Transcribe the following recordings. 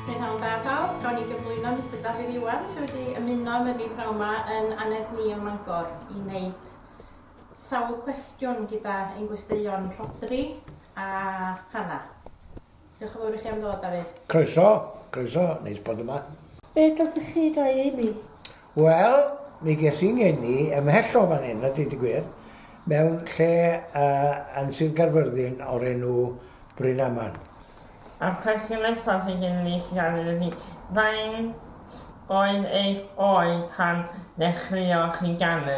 P'nawn da pawb, gawn ni gyflwyno Mister Dafydd Iwan sydd wedi ymuno â ni p'nawn ma yn anedd ni ym Mangor i wneud sawl cwestiwn gyda ein gwesteion Rhodri a Hannah. Diolch yn fawr i chi am ddod, Dafydd. Croeso, croeso, neis bod yma. Be gathoch chi da i eni? Wel, mi ges i'n ngeni ymhell o fan hyn, a deud y gwir, mewn lle uh, yn Sir Gaerfyrddin o'r enw Brynaman. A'r cwestiwn nesaf sydd gen i chi gofyn ydy, faint oedd eich oed pan ddechreuoch chi ganu?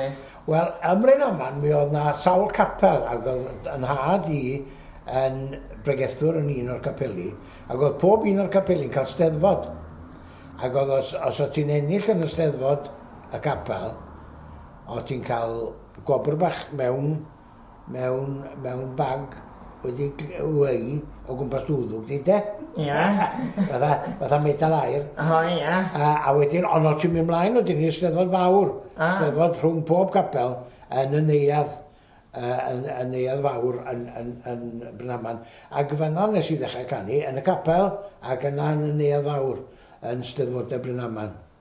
Wel, ym Mryn-aman mi oedd 'na sawl capel ac oedd 'y nhad i yn bregethwr yn un o'r capeli ac oedd pob un o'r capeli'n cael steddfod ac oedd os os oedd ti'n ennill yn y steddfod y capel oedd ti'n cael gwobr bach mewn mewn mewn bag wedi weu o gwmpas dy wddwg di de? Ia. Fatha fatha medal aur. O ia. A a wedyn on' o' ti'n myn' mlaen wedyn i'r Steddfod fawr. Ah. Steddfod rhwng pob capel yn y neuadd yy yn y neuadd fawr yn yn yn Brynaman ag fanna nes i ddechre canu yn y capel ag yna yn y neuadd fawr yn Steddfode Brynaman.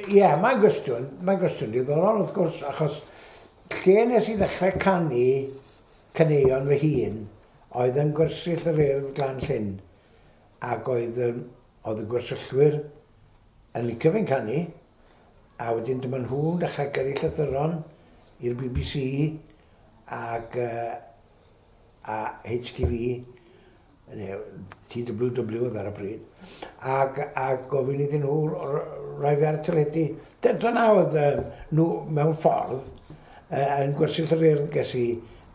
Ie, mae'n gwestiwn, mae'n gwestiwn diddorol wrth gwrs, achos lle nes i ddechrau canu caneuon fy hun oedd yn gwersyll yr Urdd Glan Llyn, ac oedd, oedd y gwersyllwyr yn licio fi'n canu, a wedyn dyma nhw'n dechrau gyrru llythyron i'r BBC ac uh, a HTV, neu TWW oedd ar y pryd, ac, ac gofyn iddyn nhw roi fe ar y teledu. Dyna oedd uh, nhw mewn ffordd uh, yn gwersyll yr urdd ges i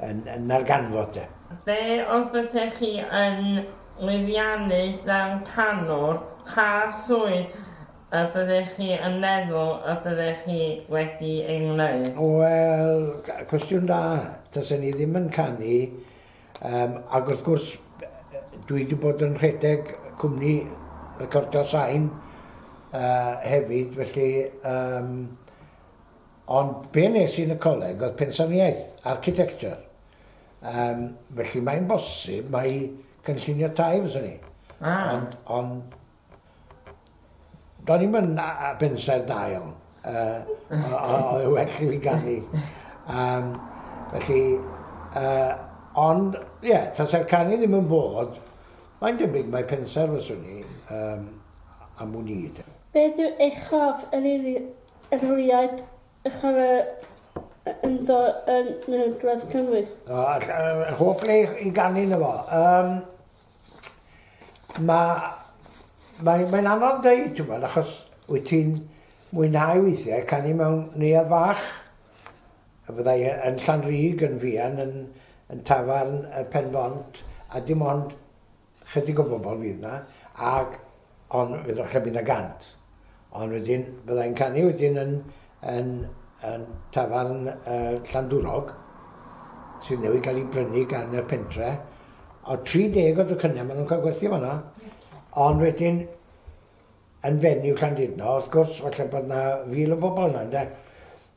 yn, yn narganfod de. Be os ydych chi yn lwyddiannus fel canwr, pa swydd A byddech chi yn meddwl y byddech chi wedi ei wneud? Wel, cwestiwn da. Tasen i ddim yn canu, yym, ac wrth gwrs, dwi wedi bod yn rhedeg cwmni recordio sain yy hefyd, felly yym, ond be wnes i yn y coleg oedd pensaernïaeth, architecture, yym, felly mae'n bosib mai cynllunio tai fyswn i. Ah. Ond, ond Do'n i'm yn bensaer da iawn, oedd yn well i fi ganu, felly, ond ie, tase'r canu ddim yn bod, mae'n debyg mai pensaer fyswn i am wn i de. Beth yw eich hoff erlyniad i chwarae ynddo yn Nantgarth Cymru? Hoff le i ganu ynddo fo? Mae, mae, mae'n anodd deud, ti'n gwybod, achos wyt ti'n mwynhau weithiau canu mewn neuadd fach, y byddai e yn Llanrug, yn Fian, yn, yn tafarn y Penfont, a dim ond chydig o bobl fydd na, ac Ond fe ddylcha bydd 'na gant. Ond wedyn bydda i'n canu wedyn yn yn yn tafarn yy Llandwrog sydd newydd ga'l 'i brynu gan y pentre o'dd 30 o dwcyne ma' nw'n ca'l gwerthu fanna. Ond wedyn yn fenyw Llandudno wrth gwrs falle bod 'na fil o bobol yna ynde?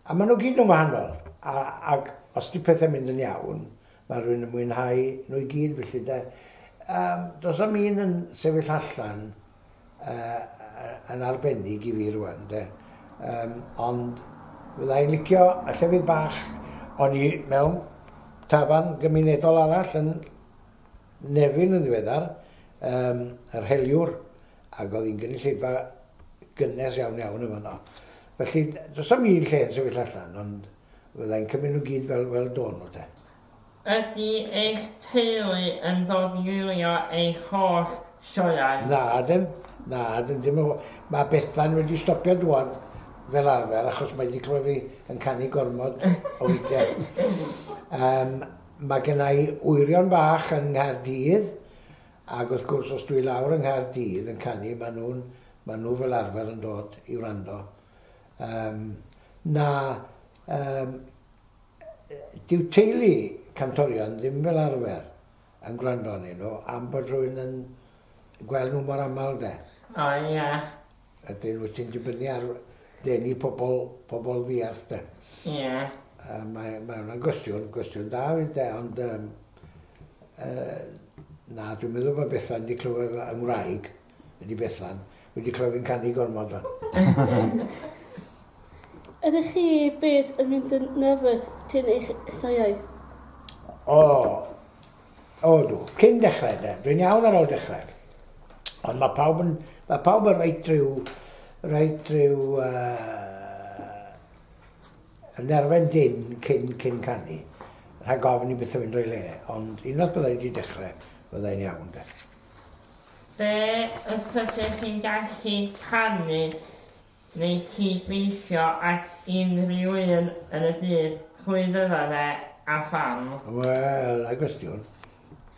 A ma' nw gyd yn wahanol a ag os 'di pethe'n mynd yn iawn Mae rhywun yn mwynhau nhw i gyd felly de. Yym, does am un yn sefyll allan yy yn arbennig i fi rwan de. Yym, ond fydda i'n licio y llefydd bach o'n i mewn tafarn gymunedol arall yn Nefyn yn ddiweddar, yym, yr Heliwr, ac oedd hi'n gynulleidfa gynnes iawn iawn yn fanno. Felly, does am un lle yn sefyll allan, ond... Fydda i'n cymryd nhw gyd fel fel do nhw de. Ydy eich teulu yn dod i wylio eich holl sioeau? Na ydyn, na ydyn, dim o gwbl. Mae Bethan wedi stopio dŵad fel arfer achos mae 'di clywed fi yn canu gormod o weithiau. Yym mae genna i wyrion bach yng Nghaerdydd ac wrth gwrs os dwi i lawr yng Nghaerdydd yn canu maen nhw'n, maen nhw fel arfer yn dod i wrando. Yym, na, yym, dyw teulu cantorion ddim fel arfer yn gwrando arnyn nhw am bod rhywun yn gweld nhw mor aml 'de. O ie. Ydyn, wyt ti'n dibynnu ar ddenu pobl, pobl ddiarth 'de. Ie. Yy mae mae hwnna'n gwestiwn, gwestiwn da 'fyd 'de ond yym yy na dwi'n meddwl bod Bethan 'di clywed fo yng ngwraig. Ydy Bethan wedi clywed fi'n canu gormod fan? Ydych chi byth yn mynd yn nervous cyn eich sioeau? O, o dw, cyn dechrau de, dwi'n iawn ar ôl dechrau. Ond mae pawb yn, mae pawb yn reit rhyw, reit rhyw, uh, yn erfen dyn cyn, cyn canu. Rhaid gofyn i beth yn mynd o'i le, ond unwaith byddai wedi dechrau, byddai'n iawn de. Be os fyset ti'n gallu canu neu cyd-weithio ag unrhyw un yn y byd, pwy fydda fe a pham? Wel, da gwestiwn.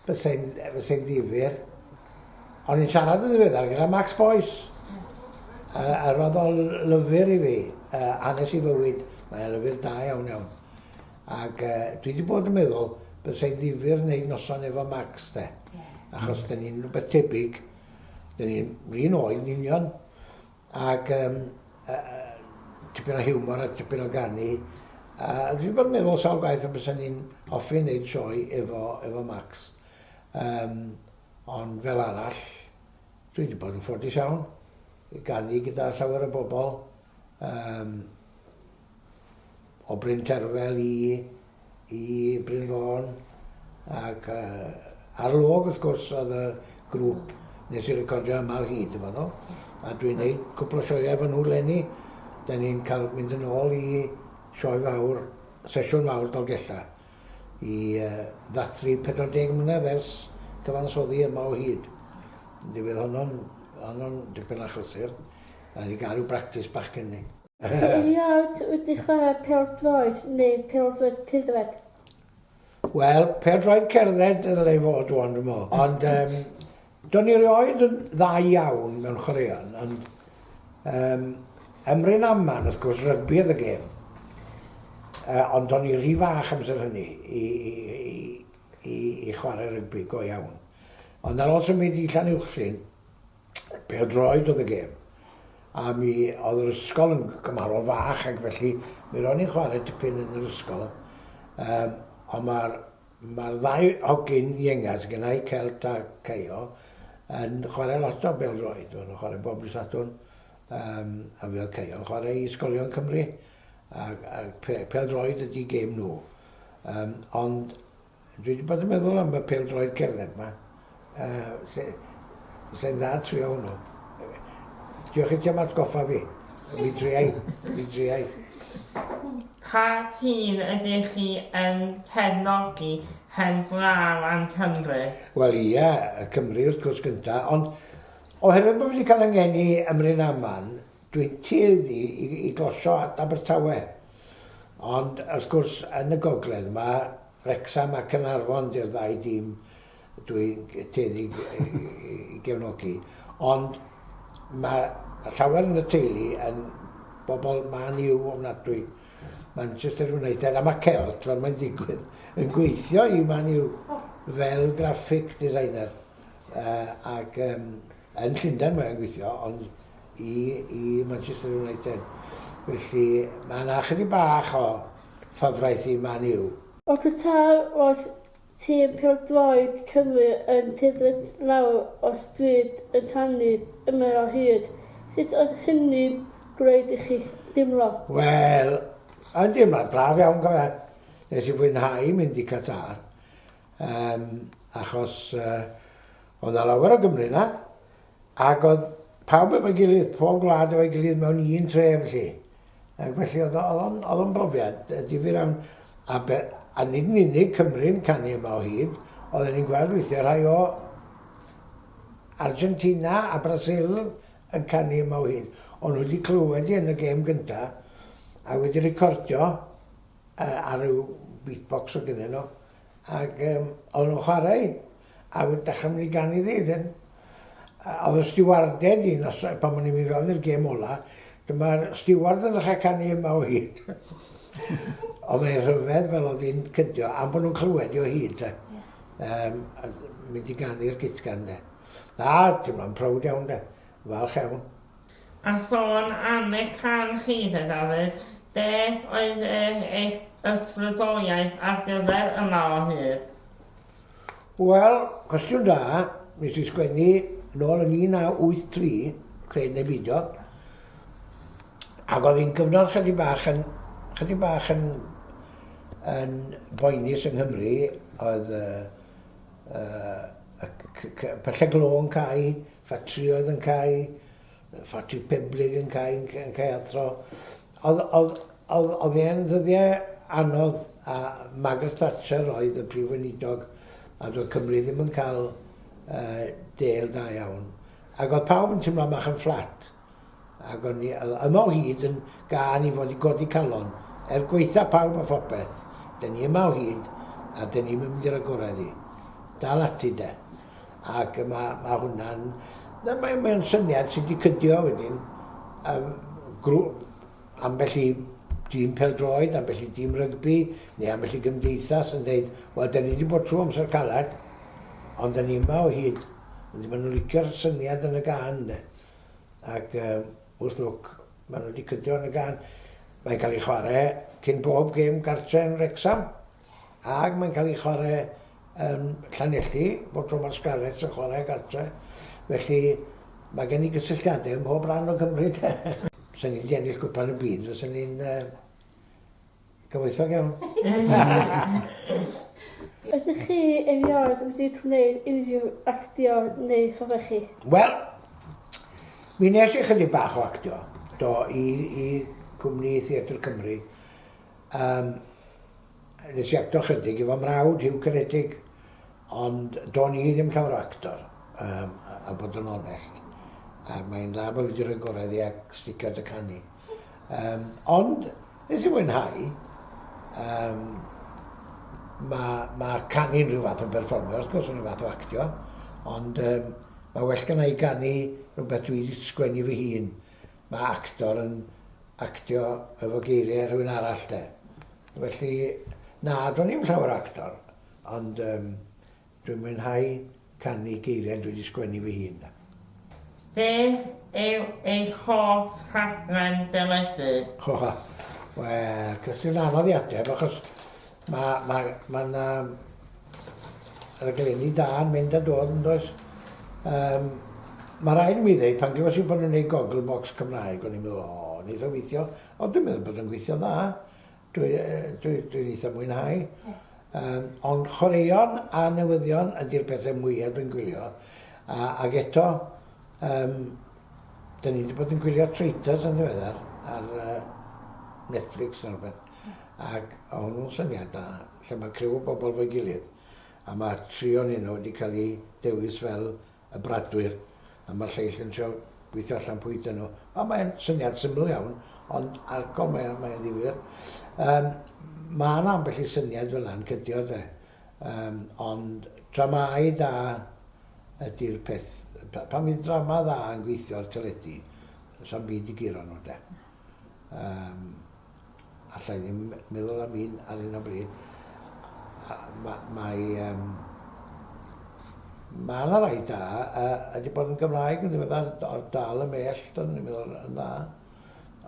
Fysai'n fysai'n ddifyr. O'n i'n siarad yn ddiweddar gyda Max Boyce. Yy a roedd o'n lyfr i fi. Yy hanes i fywyd. Mae o'n lyfr da iawn iawn. Ac dwi 'di bod yn meddwl bysa 'i'n ddifyr neud noson efo Max 'de. Ie. Achos 'dyn ni'n rwbeth tebyg. 'Dyn ni'n 'r un oed yn union. Ac yym yy yy tipyn o hiwmor a tipyn o ganu. A dwi 'di bod yn meddwl sawl gwaith a bysan ni'n hoffi neud sioe efo efo Max. Yym ond fel arall dwi 'di bod yn ffodus iawn i ganu gyda llawer o bobol. Yym o Bryn Terfel i i Bryn Fôn ac yy ar y log wrth gwrs oedd y grŵp nes i recordio yma o hyd yn fanno a dwi'n neud cwpl o sioeau efo nhw leni 'dan ni'n cael mynd yn ôl i sioe fawr sesiwn fawr Dolgella i yy ddathlu 40 mlynedd ers cyfansoddi yma o hyd mi fydd honno'n honno'n dipyn achlysur a ni gael ryw bractis bach cyn 'ny. Erioed wedi chwarae pêl-droed neu pêl-droed cerdded? Wel, pêl-droed cerdded y ddylai fod o'n dwi'n meddwl. Ond um, do'n i erioed yn dda iawn mewn chwaraeon. Ond um, ymryn aman, wrth gwrs, rygbi oedd y gêm. Uh, ond do'n i rhy fach amser hynny i, i, i, i, i chwarae rygbi go iawn. Ond ar ôl symud i Llan Uwchsyn, Pêl-droed oedd y gêm, a mi oedd yr ysgol yn gymharol fach ac felly mi ro'n i'n chwarae tipyn yn yr ysgol yym ond ma'r ma'r ddau hogyn iengas gynna' i Celt a Caio yn chwarae lot o bêl-droed, ma' nhw'n chwarae bob dydd Sadwrn yym a mi oedd Caio yn chwarae i ysgolion Cymru ac ac pe- pêl-droed ydi gêm nhw yym ond Dwi 'di bod yn meddwl am y pêl-droed cerdded 'ma. Yy fysa hi'n dda trio hwnnw. Diolch i ti am atgoffa fi. Mi driai, mi driai. Pa tîm ydych chi yn cefnogi heb law am Cymru? Wel ia, Cymru wrth gwrs gynta, ond oherwydd bo fi 'di ca'l 'y ngeni ym Mryn Aman, Dwi'n tueddu i glosio at Abertawe, ond wrth gwrs yn y gogledd yma, Wrecsam a Caernarfon 'di'r ddau dîm dwi'n tueddu i gefnogi. Ond mae llawer yn y teulu yn bobl Man U ofnadwy, Manchester United, a mae Celt, fel mae'n digwydd, yn gweithio i Man U fel graphic designer, ac yn Llundain mae o'n gweithio, ond... i i Manchester United, felly mae yna ychydig bach o ffafraeth i Man U. Yn Qatar roedd tîm pêl-droed Cymru yn cerdded lawr o'r stryd yn rhannu ymyl o hyd, sut oedd hynny'n gwneud i chi deimlo? Wel, yn deimlad braf iawn go fe. Nes i fwynhau mynd i Qatar yym achos yy oedd 'na lawer o Gymry 'na, Ac oedd pawb efo'i gilydd, pob gwlad efo'i gilydd mewn un tref 'lly. Ac felly oedd o'n oedd o'n brofiad difyr iawn. A be- a nid yn unig Cymru'n canu yma o hyd, oedden ni'n gweld weithiau rhai o Argentina a Brasil yn canu yma o hyd. O'n nhw wedi clywed hi yn y gêm gynta, a wedi recordio uh, ar ryw beatbox o gynnyn nhw, ac um, o'n nhw'n chwarae A oedd Beckham wedi ganu ddi then? A oedd y stiwarded un os yy pan o'n i'n mynd fewn i'r gêm ola dyma'r stiward yn ddechre canu yma o hyd. Oedd e'n rhyfedd fel oedd hi'n cydio am bo' nhw'n clywed hi o hyd de. Ie. Yym a d- mynd i ganu'r gutgan de. Na, teimlo'n prowd iawn de. Falch iawn. A sôn am eich cân chi de Dafydd, be' oedd yy eich ysbrydoliaeth ar gyfer yma o hyd? Wel, cwestiwn da. Nes i sgwennu nôl yn 1983, cred neu beidio, ac oedd hi'n gyfnod chydig bach yn, chydig bach yn, yn boenus yng Nghymru, oedd uh, uh, pyllau glo yn cael, ffatrioedd yn cael, ffatri peblig yn cael, yn cael athro, O'dd o'dd o'dd o'dd e'n ddyddie anodd a Margaret Thatcher oedd y Prif Weinidog a do'dd Cymru ddim yn ca'l yy dêl da iawn ag o'dd pawb yn timlo bach yn fflat ag o'n i yy yma o hyd yn gân i fod i godi calon er gwaetha pawb a phopeth 'dyn ni yma o hyd a 'dyn ni'm yn mynd i ragorau iddi. Dal ati 'de. ac mae, mae hwnna'n... Mae'n mae syniad sydd wedi cydio wedyn, um, grŵp, ambell i dîm peldroed, ambell i dîm rygbi, neu ambell i gymdeithas yn dweud, wel, da ni wedi bod trwy amser caled, ond da ni yma o hyd. Felly maen nhw'n licio'r syniad yn y gan, de. Ac um, wrth lwc, maen nhw wedi cydio yn y gan. Mae'n cael ei chwarae cyn bob gêm gartre yn Rexham. Ac mae'n cael ei chwarae yn Llanelli, bob tro mae'r Scarlets yn chwarae gartre'. Felly, mae gen i gysylltiadau ym mhob rhan o Gymru 'de. Os o'n i 'di ennill Gwpan y Byd, fyswn i'n gyfoethog iawn. Ydych chi erioed wedi gwneud unrhyw actio neu chyfyrchu? Wel, mi nes i chydig bach o actio, do, i i Gwmni Theatr Cymru. Yym, nes i acto chydig i fy mrawd Hugh Caredig, ond do'n i ddim llawer o actor, yym, a bod yn onest. Ac mae'n dda bo' fi 'di rhoi gorau iddi ac sticio at y canu. Yym, ond, nes i fwynhau. Yym, ma' ma' canu'n rhyw fath o berfformio wrth gwrs, rhyw fath o actio, ond yym, ma' well gynna' i ganu rwbeth dwi 'di sgwennu fy hun. Mae actor yn actio efo geiriau rhywun arall 'de. Felly, na, do'n i'm llawer o actor, ond yym dwi'n mwynhau canu geiriau dwi 'di sgwennu fy hun 'de. Beth yw eich hoff rhaglen deledu? Wel, cwestiwn anodd i ateb achos Mae, mae, mae 'na raglenni da yn mynd a dod yn does? Um, mae rhaid i mi ddeud, pan glywes i bod nhw'n gwneud gogl box Cymraeg, o'n i'n meddwl, o, oh, wneud o weithio, o, dwi'n meddwl bod yn gweithio dda, dwi'n dwi, dwi eitha mwynhau. Um, ond chwaraeon a newyddion ydy'r pethau mwyaf dwi'n gwylio. A, ac eto, um, dyn ni wedi bod yn gwylio Traitors yn ddiweddar ar uh, Netflix neu rhywbeth. ac o' hwnnw'n syniad da, lle ma' criw o bobl 'fo'i gilydd, a ma' tri o'nyn nhw 'di cael 'u dewis fel y bradwyr, a ma'r lleill yn trio gweithio allan pwy ydyn nhw. A mae'n syniad syml iawn, ond arcol mae o, mae'n ddifyr. Yym, ma' 'na ambell i syniad fel 'na'n cydio, 'de. Yym, ond dramâu da ydi'r peth. Pa- pan fydd drama dda yn gweithio ar teledu, 'sa'm byd i guro nhw, 'de. Yym. alla i ddim meddwl am un ar hyn o bryd. Mae... Um, mae yna rai da, a wedi bod yn Gymraeg yn ddiweddar, ond dal y mell, do'n i'n meddwl yn dda.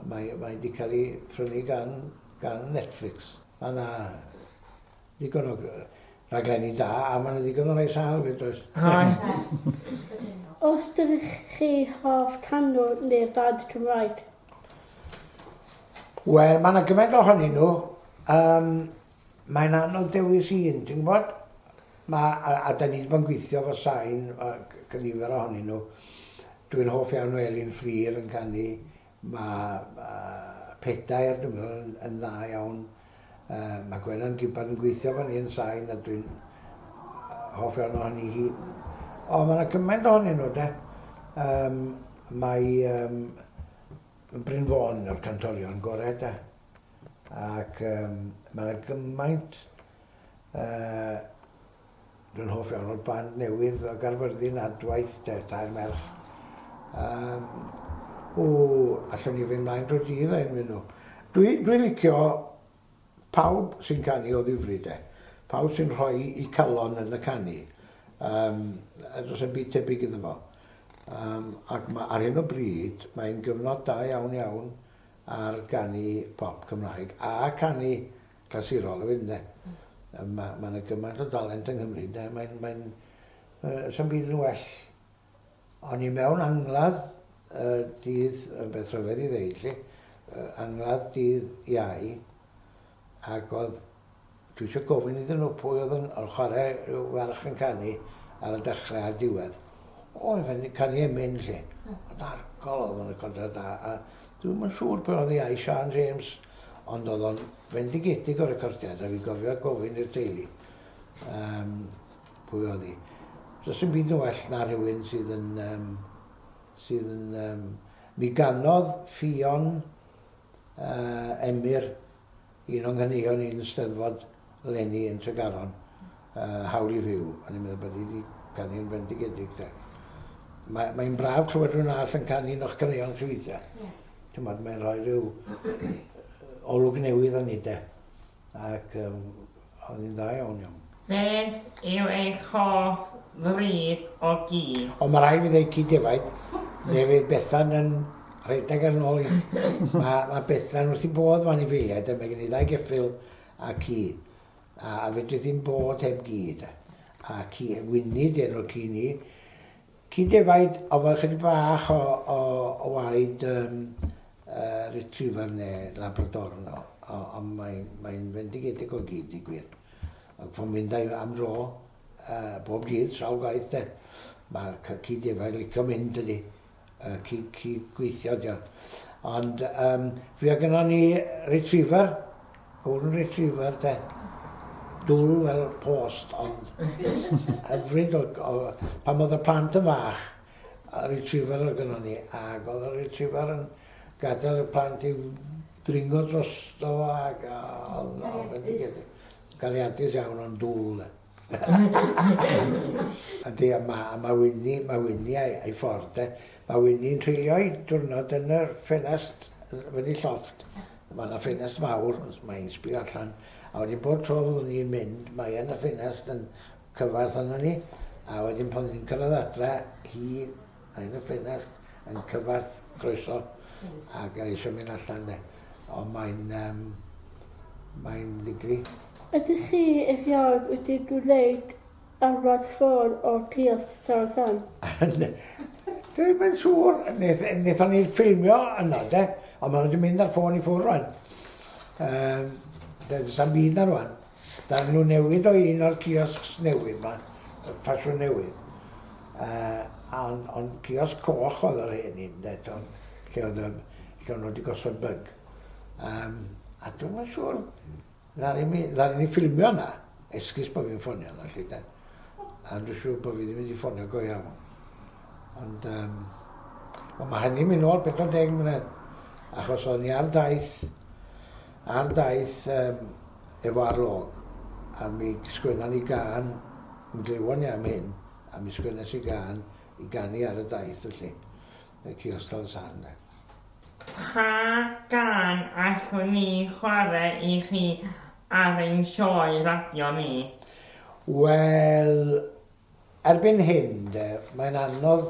Mae, mae wedi cael ei prynu gan, gan Netflix. Mae yna ddigon o raglenni da, a mae yna ddigon o rai sal fyd oes. Os dydych chi hoff tanwr neu band Cymraeg, Wel ma' 'na gymaint ohonyn n'w yym mae'n anodd dewis un ti'n gwbod ma' a a 'dan ni 'di bod yn gweithio efo sain yy c- c- nifer ohonyn n'w dwi'n hoff iawn o Elin Fflur yn canu ma' yy pedair dwi'n meddwl yn yn dda iawn. Mae Gwenan Gibbard yn gweithio efo ni yn Sain a dwi'n hoff iawn ohoni hi. O, mae yna cymaint ohonyn nhw, de. Um, mae um, Bryn Fôn o'r cantorion gorau, de. Ac um, mae yna gymaint uh, Dwi'n hoff iawn o'r band newydd o Gaerfyrddin, Adwaith, de, tair merch. Um, o, allwn ni fynd mlaen dro dydd a enwi nhw. Dwi, dwi licio pawb sy'n canu o ddifri de. Pawb sy'n rhoi i calon yn y canu. Um, dros yn byd tebyg iddo fo. Um, ac mae ar hyn o bryd, mae'n gyfnod da iawn iawn ar ganu pop Cymraeg a canu clasurol hefyd ynde? Mm. Mae ma yna gymaint o dalent yng Nghymru ynde? Mae'n... Mae uh, sy'n byd yn well. O'n i mewn angladd uh, dydd, yn beth rhyfedd i ddeud lle, uh, angladd dydd iau, ac oedd, dwi eisiau gofyn iddyn nhw pwy oedd yn, yn chwarae rhyw farch yn canu ar y dechrau a'r diwedd. O, yn fenni canu emyn lle. Mm. Oedd argol oedd yn y contract da. A dwi'n yn siŵr pan oedd i ai Sian James Ond oedd o'n fendigedig o recordiad a fi'n gofio gofyn i'r teulu um, pwy oedd hi. Does dim byd yn well na rhywun sydd yn... Um, sydd yn um, mi ganodd ffion uh, Emyr un o'n nghyneuon i'n steddfod Lenny yn Tregaron. Yy, hawl i fyw. O'n i'n meddwl bod hi 'di canu yn fendigedig 'de. Mae, mae'n braf clywed rhywun arall yn canu un o'ch caneuon chi weithia'. Ie. T'mod, mae'n rhoi rhyw olwg newydd arni 'de. Ac yym, oedd hi'n dda iawn iawn. Beth yw eich hoff fryd o gi? O, ma' raid fi ddeud cig defaid. Fe fydd Bethan yn rhedeg ar 'n ôl i. Ma' ma' Bethan wrth 'i bodd efo anifeiliaid 'de, mae gen i ddau geffyl a ci. A fedri ddim bod heb gyd. A ci y gwynid enw'r ci ni. Ci defaid ond fel chydig bach o o o waed yym yy retriever ne labrador yn ôl o ond mae'n mae'n fendigedig o gyd deu gwir. Ac fo'n mynd â i am dro yy bob dydd sawl gwaith de. Ma'r cy- ci defaid licio mynd dydi? yy cyd cydgweithio ydi o. Ond yym fuo gynnon ni retriever, golden retriever de. Dwl fel post ond hyfryd o o pan o'dd y plant yn fach yy retriever o'dd gynnon ni ag o'dd y retriever yn gadel y plant i dringo drosto ag a o'dd o'n fendigedig. Gariadus iawn ond dwl de. Yndi, a ma', a ma' Wini, ma' Wini a'i, a'i ffordd 'de. Ma' Wini'n treulio'i diwrnod yn yr ffenast yy fyny llofft. Ma' 'na ffenast fawr, os ma' hi'n sbio allan, a wedyn bob tro fyddwn ni'n mynd, mae yna ffenast yn cyfarth arnon ni, a wedyn pan ni'n cyrradd adre, hi Yn y ffenest yn cyfarth croeso ac eisiau mynd allan de. Ond mae'n um, mae'n ddigri. Ydych chi erioed wedi gwneud arwad ffôn o Cylch Tal San? Dwi'n mynd siŵr, wnaethon ni ffilmio yna de, ond maen nhw wedi mynd ar ffôn i ffwrdd rwan. Um, Dyna sa'n byd na rwan. Daw nhw newydd o un o'r ciosgs newydd 'ma, y ffasiwn newydd. Yy on- ond ciosg coch oedd yr hen un 'de, t'wel, lle oedd yr... lle o' nhw 'di gosod byg. Yym a dwi'm yn siŵr ddaru mi... ddaru ni ffilmio yna, esgus bo' fi'n ffonio yna 'lly 'de. A dwi siŵr bo' fi ddim wedi ffonio go iawn. Ond yym wel ma' hynny'n myn' nôl pedwar deg mlynedd, achos o'n i ar daith Ar daith efo arlog, a mi sgwenna ni gân, mi glywon ni am hyn, a mi sgwennes i gân i ganu ar y daith felly, y Ciostal y Sarn 'de. Pa gân allwn ni chwarae i chi ar ein sioe radio ni? Wel, Erbyn hyn, de, mae'n anodd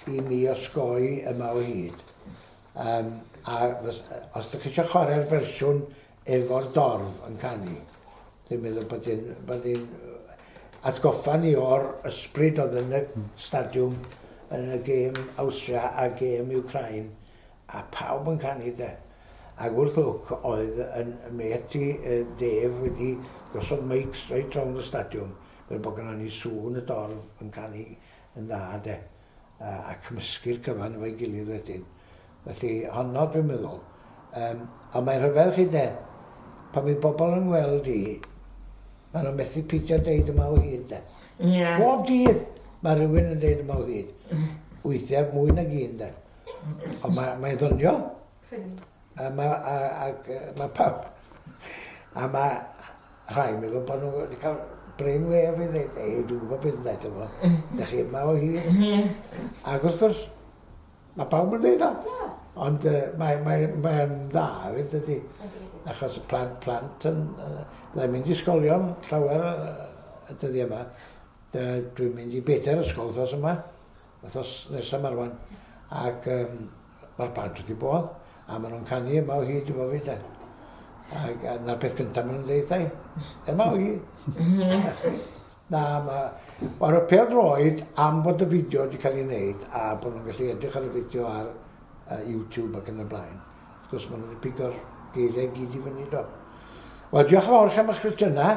i mi osgoi yma o hyd. Yym, a fys- os dych chi eisiau chwarae'r fersiwn efo'r dorf yn canu, dwi'n meddwl bod hi'n, bod hi'n atgoffa ni o'r ysbryd oedd yn y stadiwm yn y gêm Awstria a gêm Wcráin, a pawb yn canu, de. Ac wrth lwc oedd 'yn mêt i, yy, Dave, wedi gosod meics reit rownd y stadiwm, fel bod gynnon ni sŵn y dorf yn canu yn dda de, a cymysgu'r cyfan efo'i gilydd wedyn. Felly, honno dwi'n meddwl. Yym, ond mae'n rhyfedd chi de, pan fydd bobl yn ngweld i, maen nhw'n methu peidio deud yma o hyd de. Ie. Bob dydd mae rhywun yn deud yma o hyd. Weithiau mwy nag un de. Ond mae, mae ddoniol. Ffyni. A mae, a, a, mae pawb. A mae Rhai'n meddwl bod nhw wedi cael brainwave i ddeud ei, dwi'n gwybod beth wnaeth o fo. Dych chi yma o hyd. Ac wrth gwrs, mae pawb yn dweud o. Ond uh, mae'n mae, mae dda hefyd, dydy. Achos y plant, plant yn... Uh, Byddai'n mynd i ysgolion llawer y dyddiau yma. Dwi'n mynd i bedair ysgol wrthos yma, wrthos nesaf marwan. Ac um, Mae plant wrth eu bodd a maen nhw'n canu yma o hyd efo fi 'de. Ac a 'na'r peth gynta maen nhw'n deud wrtha i. Yma o hyd! Na, ma'... Wel y pêl-droed am bod y fideo wedi cael ei wneud a bod nhw'n gallu edrych ar y fideo ar uh, YouTube ac yn y blaen. Wrth gwrs maen nhw wedi pigo'r geiriau i gyd i fyny do. Wel diolch yn fawr chi am eich cwestiynau.